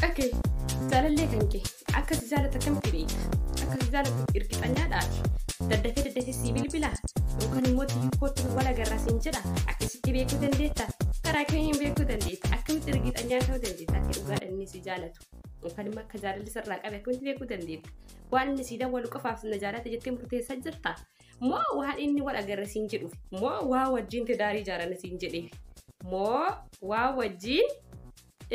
Ok, jaalallee kan kee akka si jaalatu akkamitti beekta? Akka si jaalatu irgixanyaadha ati. Daddafee daddafee sii bilbila yookaan immoo tiyyu kootti nu wal agarra siin jedha akkasitti beekuu dandeetta. Karaa kamiin beekuu dandeetta? Akkamitti irgixanyaa ta'uu dandeetta? Akka dhugaadhaan inni si jaalatu yookaan immoo akka jaalalli sirraa qabe akkamitti beekuu dandeetta? Waan inni sii dawwalu qofaaf na jaalata jettee murteessaa jirta? Moo waan inni wal agarra siin jedhuuf? Moo waa wajjin tidaarii ijaarana siin jedheef? Moo waa wajjin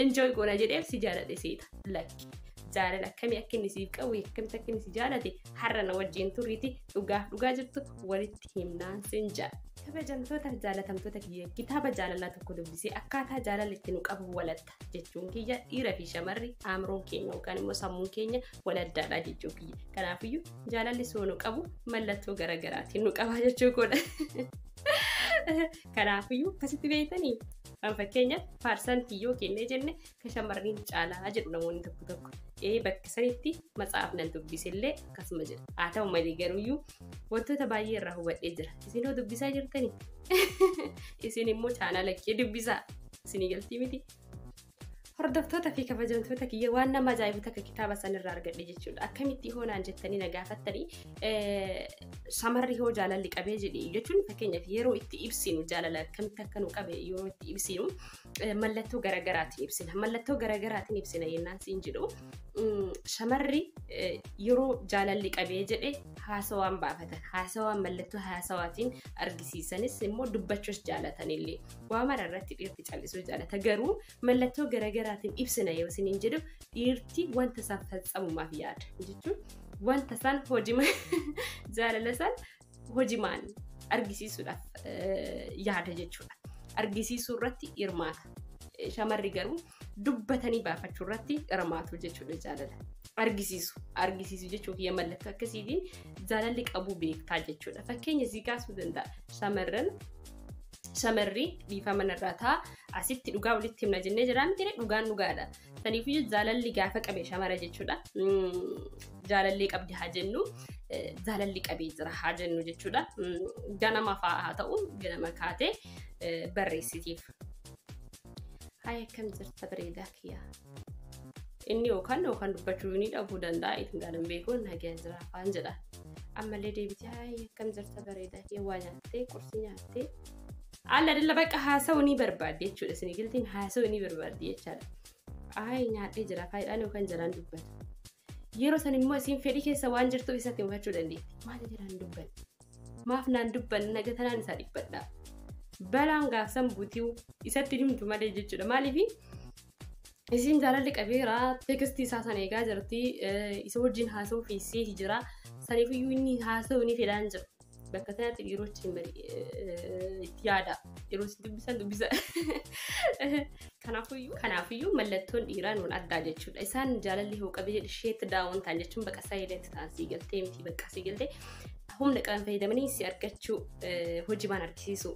enjoy goona jedheef si jaaladhe seeta lakki jaalala akkamii akka inni siif qabu akkamitti akka inni si jaalate har'a na wajjin turriiti dhugaa dhugaa jirtu walitti himnaan sin jaa kabajamtoota jaalatamtoota kiyya kitaaba jaalalaa tokko dubbisee akkaataa jaalala itti nu qabu walatta jechuun kiyya dhiira fi shamarri aamroon keenya yookaan immoo sammuun keenya waladdaadha jechuu kiyya kanaafiyyuu jaalalli soo nu qabu mallattoo garaagaraatiin nu qabaa jechuu koodha kanaafiyyuu akkasitti beektanii Kan fakkeenya paarsantii yoo kennee jenne kan shamarranii ni caalaa jedhu namoonni tokko tokko. Ee bakka sanitti matsaafnan dubbisillee akkasuma jedha. Haa ta'u malee garuuyyuu wantoota baay'ee irraa hubadhee jira. Isin hoo dubbisaa jirtanii? Isin immoo chaanala kee dubbisaa. Isinii galtii miti. Hordoftoota fi kabajamtoota kiyya waan nama ajaa'ibu takka kitaaba san irraa argadhe jechuudha. Akkamitti hoo naan jettanii na gaafattanii shamarri hoo jaalalli qabee jedhi jechuun fakkeenyaaf yeroo itti ibsinu jaalala akkamitti akka nu qabe yeroo itti ibsinu mallattoo garaagaraatiin ibsina. Mallattoo garaagaraatiin ibsina yennaan siin jedhu shamarri yeroo jaalalli qabee jedhe haasawaan baafatan haasawaan mallattoo haasawaatiin argisiisanis immoo dubbachuus jaalatanillee waa mara irratti dhiirti callisuu jaalata garuu mallattoo garagaraatiin ibsina yoo isiniin jedhu dhiirti wanta isaan falsamumaaf yaada jechuun wanta isaan hojima jaalala isaan hojimaan argisiisuudhaaf yaada jechuudha. Argisiisuu irratti hirmaata. Shamarri garuu dubbatanii baafachuu irratti hirmaatu jechuudha jaalala. Argisiisu. Argisiisu jechuun kiyya mallattoo akkasiitiin jaalalli qabuu beektaa jechuudha. Fakkeenya sii kaasuu danda'a. Shamarran shamarri dhiifama narraa ta'a asitti dhugaa walitti himna jennee jiraa miti dhugaan dhugaadha saniifuu jaalalli gaafa qabe shamara jechuudha jaalallee qabdi haa jennu jaalalli qabee jira haa jennu jechuudha ganama fa'aa haa ta'u ganama kaatee barreessitiif. Haaya akkam jirta bareedaa kiyyaa. Inni yookaan yookaan dubbachuu ni dhabuu danda'a ittiin gaalan beekuu nagaya jira afaan jedha. Ammallee deebitee haayee akkam jirta bareedaa kee waa nyaattee qursi nyaattee. Alla dilla bakka haasa'uu ni barbaaddi jechuudha isin giltiin haasa'uu ni barbaaddi jechaadha. Aayee nyaadhee jira faayidhaan yookaan jalaan dubbatu. Yeroo san immoo isin fedhii keessa waan jirtuuf isatti hubachuu dandeetti. Maal jalaan dubbanne? Maaf naan dubbanne naga tanaan isaa dhibbadhaa. Balaan gaafsan butiu isatti himtu malee jechuudha maaliifi Isiin jaalalli qabeera teekistii isaa sana eegaa jirti isa wajjin haasa'uu fi seeti jira saniifiyyuu inni haasa'uu ni fedhaan jira bakka sanatti dhiirochi hin bari itti yaada yeroo isin dubbisan dubbisa kanaafiyyuu kanaafiyyuu mallattoon dhiiraa nuun addaa jechuudha isaan jaalalli hoo qabee jedhe sheetti daawwan ta'an jechuun bakka isaa eedeetti ta'an sii galtee miti bakka sii galtee humna qaban fayyadamanii si argachuu hojii baan argisiisuu.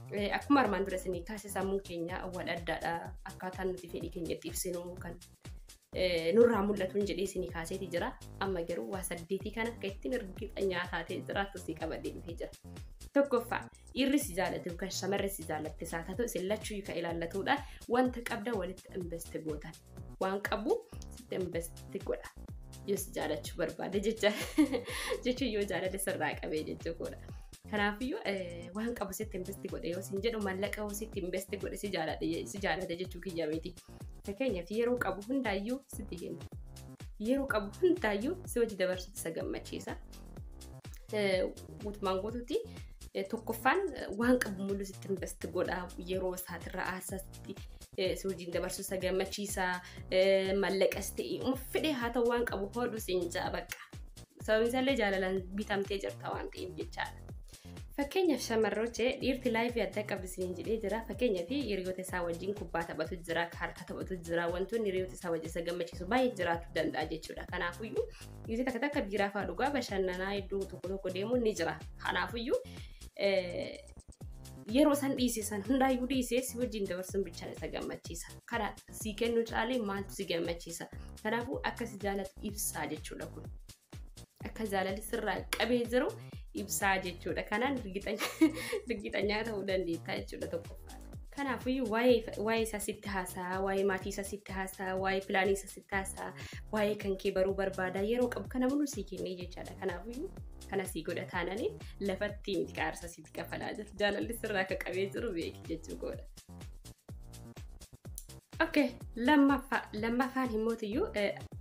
Akkuma armaan dura isinii kaase sammuun keenya wal addaadha. Akkaataan nuti fedhii keenya itti ibsinu kan nurraa mul'atuun jedhee isinii kaaseeti jira. Amma garuu waa saddeetii kana akka ittiin hirgifannaa taatee jiraattu si qabadee dhufee jira. Tokkoffaa dhiirri si jaallatu yookaan shamarri si jaallatte isaa taatu isin lachuu kan ilaallatudha. Wanta qabda walitti invest gootan. waan qabu sitti investi godha. Yoo si jaalachuu barbaade jecha jechuun yoo jaalate sirraa qabee jechuu godha. Kanaafiyyuu waan qabu sitti investi godhe yoo siin jedhu mallaqa yoo sitti investi godhe si jaalate jechuu kiyya miti. Fakkeenyaaf yeroo qabu hundaayyuu sitti kenna. Yeroo qabu hundaayyuu si hojii dabarsuutti isa gammachiisa. Guutumaan guutuutti tokkoffaan waan qabu mul'isutti investi godha yeroo isaatirra aarsaatti si wajjin dabarsuu isa gammachiisa mallaqas ta'e uma fedhe haa ta'u waan qabu hodhu siin ja'a bakka sababni isaallee jaalalaan bitamtee jirta waan ta'eef jechaadha. Fakkeenyaaf shamarroche dhiirti laayifii adda qabdi siin jedhee jira fakkeenyaaf hiriyoota isaa wajjin kubbaa taphatu jira kaartaa taphatu jira wantoonni hiriyoota isaa wajjin isa gammachiisu baay'ee jiraachuu danda'a jechuudha kanaafuyyuu yeroo takka takka biiraa fa'aa dhugaa bashannanaa iddoo tokko tokko deemuun ni jira kanaafuyyuu Yeroo san dhiise san hundaayyuu dhiisee si wajjin dabarsuun bichaan isa gammachiisa. Kana si kennu caalee maaltu si gammachiisa? Kanaafuu akka si jaalatu ibsaa jechuudha kun. Akka jaalalli sirraa qabee jiru ibsaa jechuudha. Kanaan rigiixanyaa ta'uu dandeetta jechuudha tokkoffaa. Kanaafuu waa'ee isaa sitti haasaa, waa'ee maatii isaa sitti haasaa, waa'ee pilaanii isaa sitti haasaa, waa'ee kan kee baruu barbaada yeroo qabu kana mul'isuu kennee jechaadha. Kanaafuu kana sii godha taananii lafatti miti qaarsa itti kafalaa jirta. Jaalalli sirraa akka qabee jiru beeki jechuu koodha. Okay, lammaffaa lammaffaan himmootiyyuu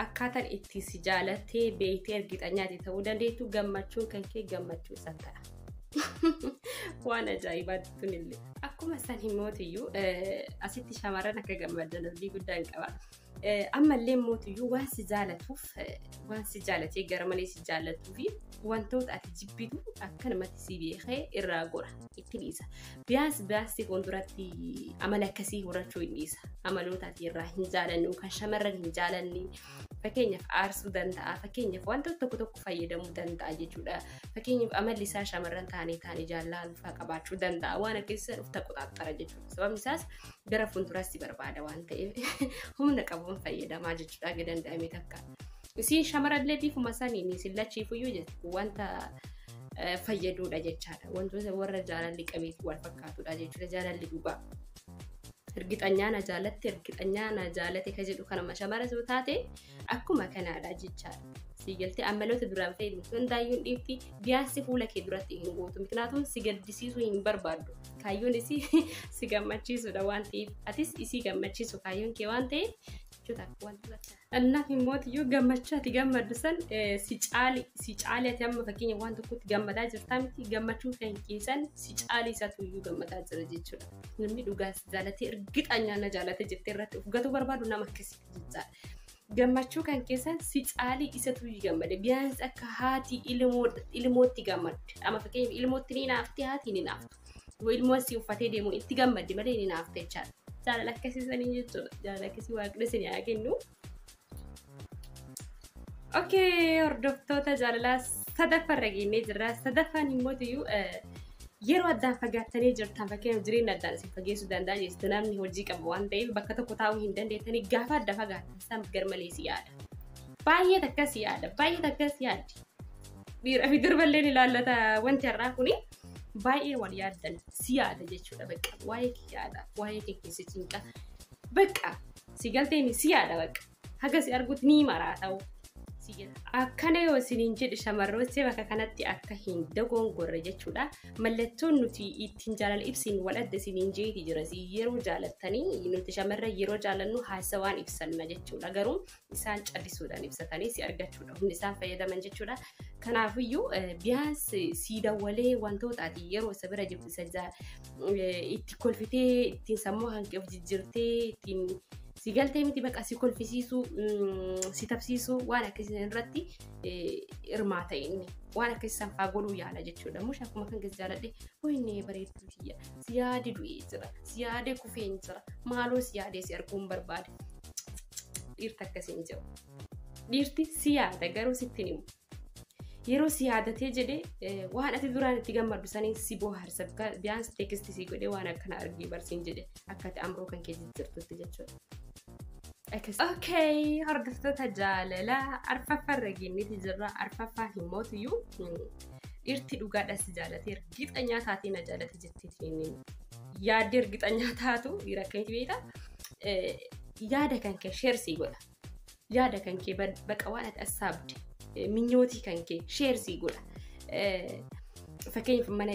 akkaataan itti si jaalattee beektee ergixanyaati ta'uu dandeettu gammachuun kan kee gammachuu isaa ta'a. Waan ajaa'ibaatti tunillee. Akkuma san himmootiyyuu asitti shamarran akka gammadan abdii guddaan qaba. Ammallee mootiyyuu waan si jaalatuuf waan si jaalatee gara malee si jaalatuu fi wantoota ati jibbitu akkanumatti si beekee irraa gora itti dhiisa. Biyaas biyaasii fuulduratti amala akkasii horachuu hin dhiisa. Amaloota ati irraa hin jaalannu kan shamarran hin jaalanne fakkeenyaaf aarsuu danda'a fakkeenyaaf wantoota tokko tokko fayyadamuu danda'a jechuudha. Fakkeenyaaf amalli isaa shamarran taanee taanee jaallaluu fa'aa qabaachuu danda'a waan akkasii sana of taqoxaaxxara jechuudha. Sababni isaas gara fuulduraas si barbaada waan ta'eef humna qabuun fayyadamaa jechuudha hanga danda'ame takka. Isiin shamarallee bifuma saniin isin lachiifuyyuu jechuudha wanta eh, fayyaduudha jechaadha. Wantoota warra jaalalli qabeetti wal fakkaatudha jechuudha jaalalli dhugaa. Ergixanyaa na jaalatte ergixanyaa na jaalate ka jedhu kanuma shamara yoo taate Akkuma kanaadha jechaadha. Sii galtee ammaloota duraan fayyadamtu hundaayyuu hin dhiifti. Biyaansi fuula kee duratti hin gootu. Miknaatum si gaddisiisuu hin barbaaddu. Kaayyoon isii si gammachiisuudha waan ta'eef. Atis isii gammachiisu kaayyoon kee waan ta'eef jechuudha akka wanta bakka. Annaaf immoo iyyuu gammachuu ati gammaddu san si caali si caali ati amma fakkeenya waan tokkotti gammadaa jirtaa miti gammachuu kan keessan si caali isaatu iyyuu gammadaa jira jechuudha. Namni dhugaa si jaalatee ergixanyaa na jaalatee jettee irratti of gatuu barbaadu nama akkasi. Gammachuu kan keessan si caalii isatu gammade. Biyyaansi akka haati ilmootti gammadde. Amma fakkeenyaaf ilmootti ni naafte haati ni naaftu. Ilmoon si uffatee deemu itti gammadde malee ni naafte jechaadha. Jaalala akkasii sanii jechuudha. Jaalala akkasii waaqni isin haa kennu. Okay, hordoftoota jaalalaa sadaffaa irra geenyee jirra. Sadaffaan immoo iyyuu yeroo addaan fagaattanii jirtan fakkeenyaaf jireenya addaan isin fageessuu danda'a jechuudha. Namni hojii qabu waan ta'eef bakka tokko taa'uu hin dandeettanii gaafa adda fagaattan san garmalee si yaada. Baay'ee takka si yaada. Baay'ee takka si yaaddi. Dhiiraa fi durba illee ni ilaallata wanti har'aa kuni. Baay'ee wal yaaddan si yaada jechuudha bakka. Waa'ee kee yaada. Waa'ee kee keessa cinqa. Bakka si galteen si yaada bakka. haga si argutti ni maraata'u si jedha. Akkana yoo isiniin jedhu shamarrootni bakka kanatti akka hin dogongorre jechuudha. Mallattoon nuti ittiin jaalala ibsiin wal adda isiniin jeeti jira. Si Yeroo jaalattanii nuti shamarra yeroo jaalannu haasawaan ibsanna jechuudha. Garuu isaan callisuudhaan ibsatanii si argachuudha. Humni isaan fayyadaman jechuudha. Kanaafiyyuu eh, biyyaas si dawwalee wantoota ati yeroo isa bira jirtu isa jaa- eh, itti kolfitee ittiin sammuu hanqee of jijjiirtee ittiin si galtee miti baqa si kolfisiisuu si tabsiisuu waan akkasii irratti hirmaata inni waan akkasii sanfaa godhuu yaala jechuudha mush akkuma kan keessa jaaladhe hoinee bareedduu tiyya si yaade du'ee jira si yaade kufeen jira maaloo si yaadee si arguun barbaade dhiirta akkasiin jiru dhiirti si yaada garuu sitti himu yeroo si yaadatee jedhe waan ati duraan itti gammaddu saniin si booharsa biyaan si teekisti si godhe waan akkana argii barsiin jedhe akka ati amroo kan kee jijjiirtutti jechuudha. Okay, hordoftoota jaalala arfaffaa irra geenyeeti jirra. Arfaffaa hin mootiyyuu dhirti dhugaadha si jaalatee ergixanyaa taatee na jaalate jetteetiin yaadde ergixanyaa taatu dhiira akkamitti beekta yaada kan kee sheersii godha. yaada kan kee baqa waan ati as saabde minyootii kan kee sheersii godha. Fakkeenyaaf mana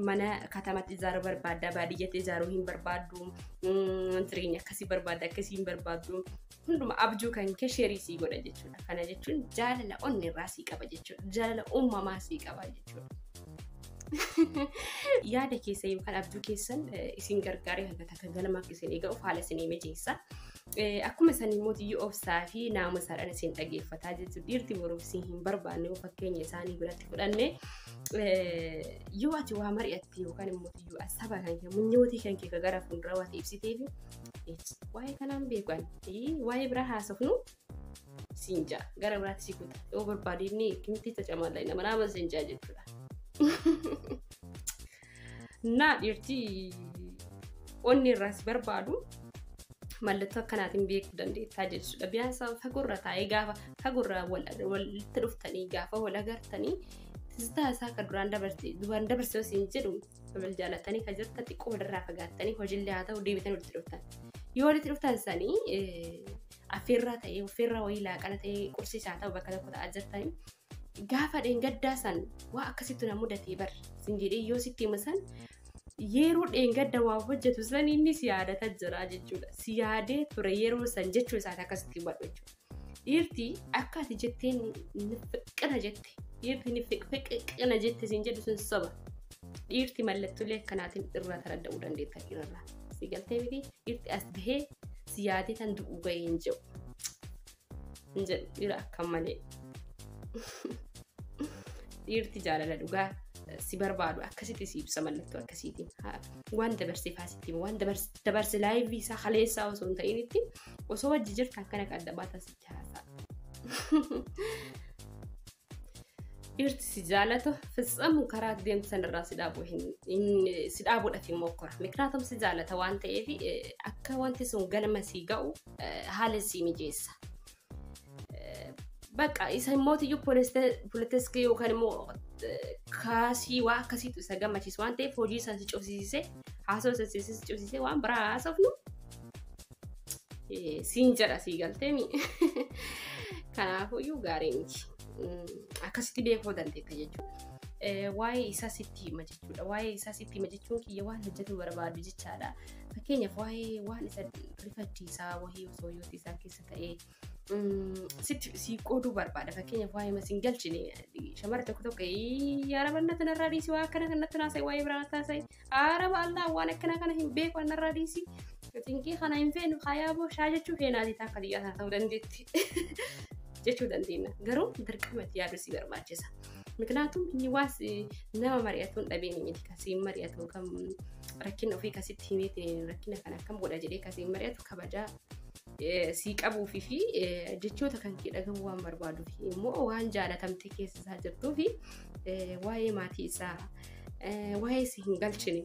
mana katamatti ijaaruu barbaadda baadiyyatti ijaaruu hin barbaaddu jireenya akkasii barbaadda akkasii hin barbaaddu hunduma abjuu kan kee sheerii sii godha jechuudha. Kana jechuun jaalala onni irraa sii qaba jechuudha. Jaalala uumamaa sii qaba jechuudha. Yaada keessa yookaan abjuu keessan isin gargaaree hanga takka galmaaf isin eega'uuf haala isin mijeessa. Akkuma san immoo yoo obsaa fi naamusaadhaan isin dhageeffataa jechuudha. Dhiirti boruuf isin hin barbaanne yoo fakkeenya isaanii biratti fudhanne yoo ati waa mari'atte yookaan immoo yoo saba kan kee munyootii kan kee gara fuulduraa waan ibsitee fi waa'ee kanaan beekan waa'ee biraa haasofnu siin jaa gara biraatti si kuta yoo barbaade inni kimitti cacamaa laayina manaa aman siin jaa jechuudha. Naa dhiirti onni irraas barbaadu mallattoo akkanaatiin beekuu dandeettaa jechuudha. Biyaasa fagoorra taa'ee gaafa fagoorra walitti dhuftanii gaafa wal agartanii tiztaa isaa akka duraan dabarte duraan dabarse osoo hin jedhu wal jaalatanii kan jirtan xiqqoo walirraa fagaattanii hojiillee haa ta'u deebitan walitti dhuftan. Yoo walitti dhuftan sanii affeerraa ta'ee affeerraa wayii laaqana ta'ee qursiisaa ta'u bakka tokko ta'aa jirtanii Gaafa dheengaddaa san waa akkasitti na mudatee bar sin jedhee yoo sitti hima san yeroo dheengadda waa hojjetu san inni si yaadata jira jechuudha. Si yaadee ture yeroo san jechuu isaati akkasitti hubadhu jechuudha. Dhiirti akka ati jettee nifiqina jette dhiirti nifiqina jette sin jedhu sun soba. Dhiirti mallattoolee akkanaatiin irraa taradda'uu dandeetta dhiirarraa. Si galtee miti dhiirti as bahee si yaadee tan du'uu ga'ee hin jiru. hin jedhu dhiira akkan malee dhiirti jaalala dhugaa si barbaadu akkasitti si ibsa mallattoo akkasiitiin Ha- waan dabarsee faasitti waan dabars- dabarse laayivii isaa kaleessaa osoo hin ta'initti osoo wajji jirtu akkana qadda baata sitti haasaa Dhiirti si jaalatu fitsamu karaa deemsan irraa si dhaabu si dhaabuudhafi mokkora. Mikraatam si jaalata waan ta'eef akka wanti sun galma si ga'u haala si mijeessa. Bakka isa immoo iyyuu poolitiskii yookaan immoo kaasii waa akkasiitu isa gammachiisu waan ta'eef hojii isaa si cufsiisee haasawaa isa si cufsiisee waan biraa haasofnu Eh, siin jedha sii galteemi. Kanaafuyyuu gaarii miti. Mm, Akkasitti beekuu dandeetta jechuudha. Eh, Waa'ee isaa sitti hima jechuudha. Waa'ee isaa sitti hima jechuun kiyya waan hojjetu barbaadu jechaadha. Fakkeenyaaf waa'ee waan isa rifachiisaa wahii osoo yoo isaa keessa ta'ee sitti si qooduu barbaada fakkeenyaaf waa'ee masiin galchine shamarri tokko tokko yaarabanna kanarraa dhiisi waa akkana kanatti naasa'e waa'ee biraa taasa'e aaraba allaa waan akkana kana hin beeku annarraa dhiisi xinkii kana hin feenu hayaaboo shaa jechuu keenaati taakka biyyaa sana ta'uu dandeetti jechuu dandeenya garuu dirqama itti yaaduu si barbaachisa miknaatum inni waas nama mari'atuun dhabeeni miti kasiin mari'atu kam rakkina ofii kasitti himeetiin rakkina kana akkam godha jedhee kasiin mari'atu kabajaa sii qabuufi fi jechoota kan kee dhagahu waan barbaaduuf immoo waan jaalatamte keessa isaa jirtuu fi waa'ee maatii isaa waa'ee si hin galchine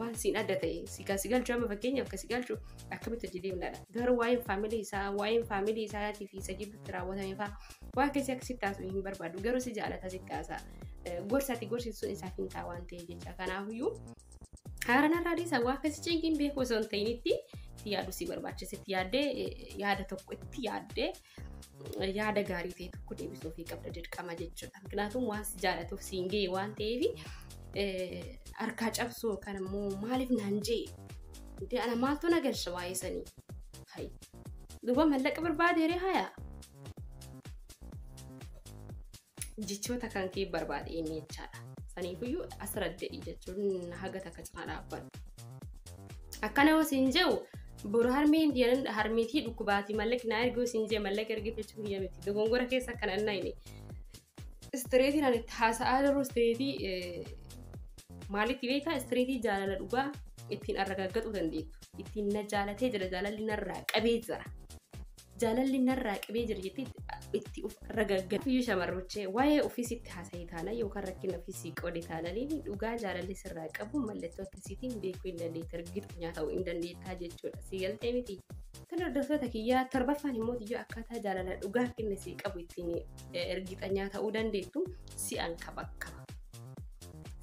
waan siin adda ta'e si kan si galchu amma fakkeenyaaf kan si galchu akkamitti hojii deemnaadha garuu waa'een faamilii isaa waa'een faamilii isaatii fi isa gidduutti raawwatame faa waa keessi akka sitti haasa'u hin barbaadu garuu si jaalata sitti haasa'a gorsaati gorsiisuun isaaf hin ta'a waan ta'e jecha kanaafiyyuu Haara narraa dhiisa waa akkasii cinqiin beeku osoo hin ta'initti itti yaadu si barbaachisa itti yaaddee yaada tokko itti yaaddee yaada gaarii ta'e tokko deebisuu fi qabda dirqama jechuudha. Kanaafuu waan si jaallatuuf si hin ga'e waan ta'eef harkaa cabsuu yookaan immoo maaliif naan jee Dee ana maaltu na galcha waa'ee sanii. Hayi. Duuba mallaqa barbaade ree hayaa. Jechoota kan kee barbaade inni jechaadha. Saniifuyyuu asradde'i jechuun haga takka cinaa dhaabbadhu. Akkana yoo siin je'u boru harmeen diyanan harmeetii dhukkubaati mallaqi naa erguu siin jee mallaqa ergee jechuu kiyya miti. Dogongora keessa akkana hin nayne. Istireetiin ani itti haasa'aa jiru istireetii maalitti beektaa istireetii jaalala dhugaa ittiin arragaggaxuu dandeettu. Ittiin na jaalatee jira jaalalli narraa qabee jira. Jaalalli narraa qibee jira jettee itti of ragagga. Fiyyuu shamarruchee waa'ee ofii sitti haasa'e taana yookaan rakkina ofii sii qoode taana illee dhugaa jaalalli sirraa qabu mallattoo akkasiitiin beekuu hin dandeetta rigirxinyaa ta'uu hin dandeettaa jechuudha. Sii galtee miti. Tole hordoftoota kiyyaa torbaffaan immoo iyyuu akkaataa jaalala dhugaa kenna sii qabu ittiin ergixanyaa ta'uu dandeettu si'an kabakkaba.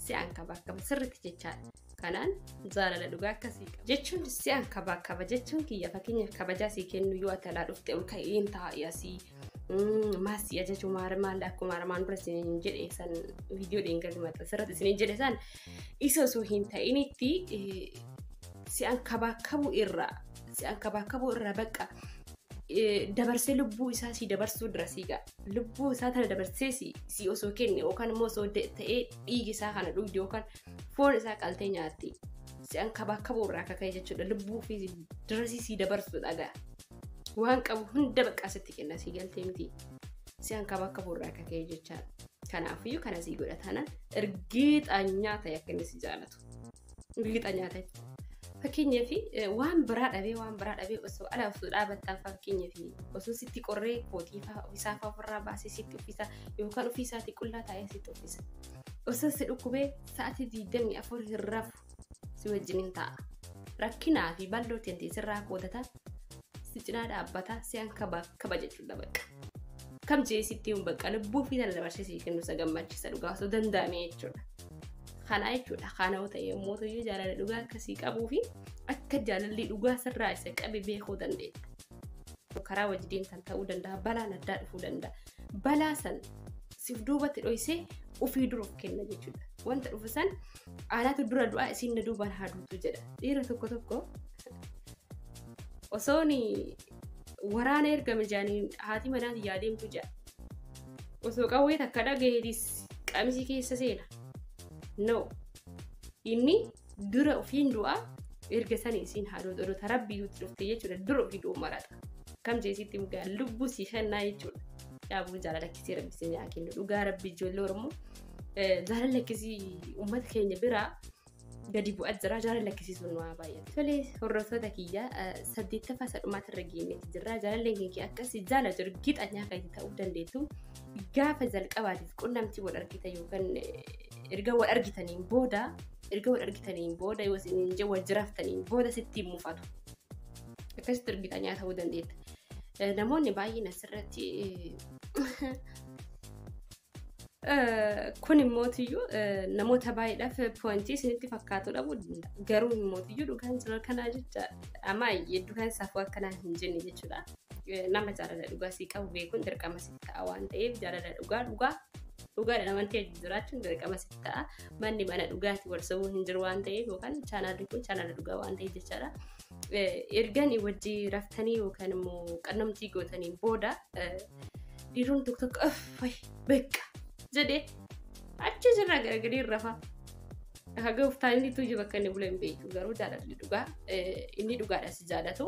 Si'an kabakkaba sirriitti jechaadha. kanaan jaalala dhugaa akkasii qaba. Jechuun si'aan kabaa qaba jechuun kiyya fakkeenyaaf kabajaa sii kennu yoo ati alaa dhufte ol ka'een taa'e asii maasii ajaju maal akkuma armaan dura isiniin jedhe san viidiyoo dheengadhi maxxansa asirratti isiniin jedhe san isa osoo hin ta'initti si'aan kabaa qabu irraa si'aan kabaa qabu irraa bakka dabarsee lubbuu isaa sii dabarsuu dura sii ga'a. Lubbuu isaa tana dabarsee sii osoo kenne yookaan immoo osoo ta'ee dhiigi isaa kana dhugde yookaan foon isaa qaltee nyaatti. Si'an kabaa kabuu irraa akka ka'e jechuudha. Lubbuu fi dirasii sii dabarsu dhagaa. Waan qabu hunda baqqaa sitti kenna sii galtee miti. Si'an kabaa kabuu irraa akka ka'e jechaadha. Kanaafiyyuu kana sii godha taanaan ergiixaa nyaata akka inni si jaalatu. Ergiixaa nyaata. Fakkeenyaaf waan biraa dhabee waan biraa dhabee osoo ala osoo dhaabattaa fakkeenyaaf osoo sitti qorree kootii fa'aa ofisaa fa'aa ofirraa baasee sitti uffisa yookaan ofiisaatii qullaa taa'ee sitti uffisa. Osoo si dhukkubee sa'atii 24 hin rafu si wajjinin ta'a. Rakkinaa fi balloo teenti sirraa kootata si cinaa dhaabbata si an kaba kaba jechuudha bakka. Kam jee sitti hin bakka lubbuu fi tan dabarsee si kennu isa gammachiisa dhugaa osoo danda'ame jechuudha. Kanaa jechuudha kana ta'e yommuu ta'u jaalala dhugaa akkasii qabuu fi akka jaalalli dhugaa sirraa isa qabe beekuu dandeenya. Karaa wajjin kan ta'uu danda'a balaan addaa dhufuu danda'a. balaa san siif duubatti dhoysee ofii dura of kenna jechuudha. Wanta dhufu san anaatu dura du'a isiin na duubaan haa duutu jedha. Dhiira tokko tokko osoon waraana ergame jaaniin haati manaa tiyyaa deemtu jedha. Osoo qawwee takka dhagaheetis qamisii keessa seena. No. Inni dura ofiin du'a erga sanii isiin haa duutu odota rabbii duuti dhufte jechuudha dura ofii du'u marata kam jeesitti mugaa lubbuu sii kennaa jechuudha yaabuu jaalala akkisii rabbi isin yaa kennu dhugaa rabbi ijoollee oromoo jaalala akkisii uummata keenya biraa gadi bu'aa jira jaalala akkisii sun waa baay'ate tolee hordoftoota kiyya saddeettaffaa sadhumaatti irra geenyetti jirra jaalalleen keenya akkasii jaalatu gixanyaa kan ta'uu dandeettu gaafa jalqabaatiif qunnamtii wal argita yookaan erga wal argitaniin booda erga wal argitaniin booda yoo isin hin jee wal jiraattaniin booda sitti hin mufatu. Akkasitti ergitanii ta'uu dandeetta. Namoonni baay'een asirratti kun immootiyyuu namoota baay'eedhaaf poointii isinitti fakkaatu dhabuu danda'a. Garuu immootiyyuu dhugaan jira kanaa jecha ammaa hedduu kan isaaf akkanaa hin jenne jechuudha. nama jaalala dhugaa sii qabu beekuun dirqama siif ta'a waan ta'eef jaalala dhugaa dhugaa dhugaadha namantii wajjin jiraachuun dirqama siif ta'a manni mana dhugaati wal sobuu hin jiru waan ta'eef yookaan chaanaalli kun chaanala dhugaa waan ta'eef jechaadha. Erganii wajjii raftanii yookaan immoo qunnamtii gootaniin booda dhiiroon tokko tokko fayi beekaa jedhee achi jirra garagalee rafa. Haga uftaan inni tuuji bakka inni bula hin beeku garuu jaalalli dhugaa inni dhugaadha si jaalatu.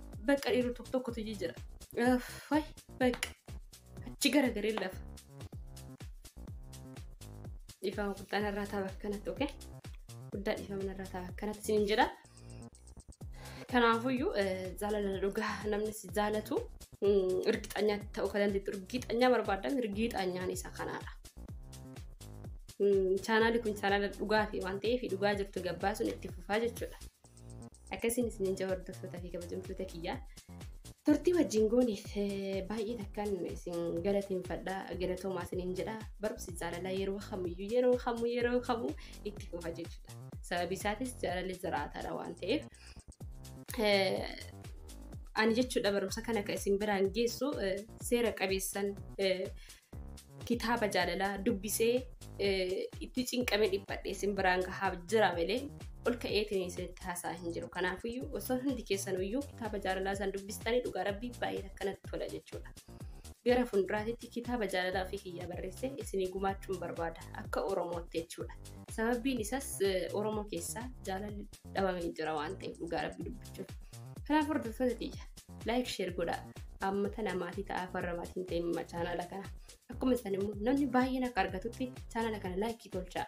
Bakka dhiirri tokko tokkotu jijjira. Fayi bakka achi garagaree lafa. Dhiifama guddaan irraa ta'a bakka kanatti oke. Guddaa dhiifama irraa ta'a bakka kanatti siin jedha. Kanaafuyyuu jaalala dhugaa namni si jaalatu irgixanyaa ta'uu kan dandeettu irgixanyaa barbaadame irgixanyaan isa kanaadha. Chaanaalii kun chaanaala dhugaati waan ta'eef dhugaa jirtu gabbaasuun itti fufaa jechuudha. Akkasiin isiniin jaa hordoftootaa fi kabajamtoota kiyyaa. Turtii wajjin goone baay'ee takkaan isin galateeffadha galatoomaa isiniin jedha barumsi jaalalaa yeroo kamiyyuu yeroo kamuu yeroo kamuu itti fufa jechuudha. Sababi isaatis jaalalli jiraataadha waan ta'eef. Ani jechuudha barumsa kana kan isin biraan geessu seera qabeessan kitaaba jaalalaa dubbisee itti cinqame dhiphadhe isin biraan gahaa jira malee ol ka'eetiin isinitti haasaa hin jiru. Kanaafiyyuu osoo hundi keessan iyyuu kitaaba jaalalaa isaan dubbistanii dhugaa rabbii baay'ee akkanatti tola jechuudha. Gara fuulduraatitti kitaaba jaalalaa ofii kiyyaa barreessee isinii gumaachuun barbaada akka Oromootti jechuudha. Sababiin isaas Oromoo keessaa jaalalli dhabamee jira waan ta'eef dhugaa rabbii dubbachuuf. Kanaaf hordoftoota kiyya like share godhaa amma tana maatii ta'aa farra maatii hin ta'in ma chaanala kana akkuma isan immoo namni baay'een akka argatutti chaanala kana like tolchaa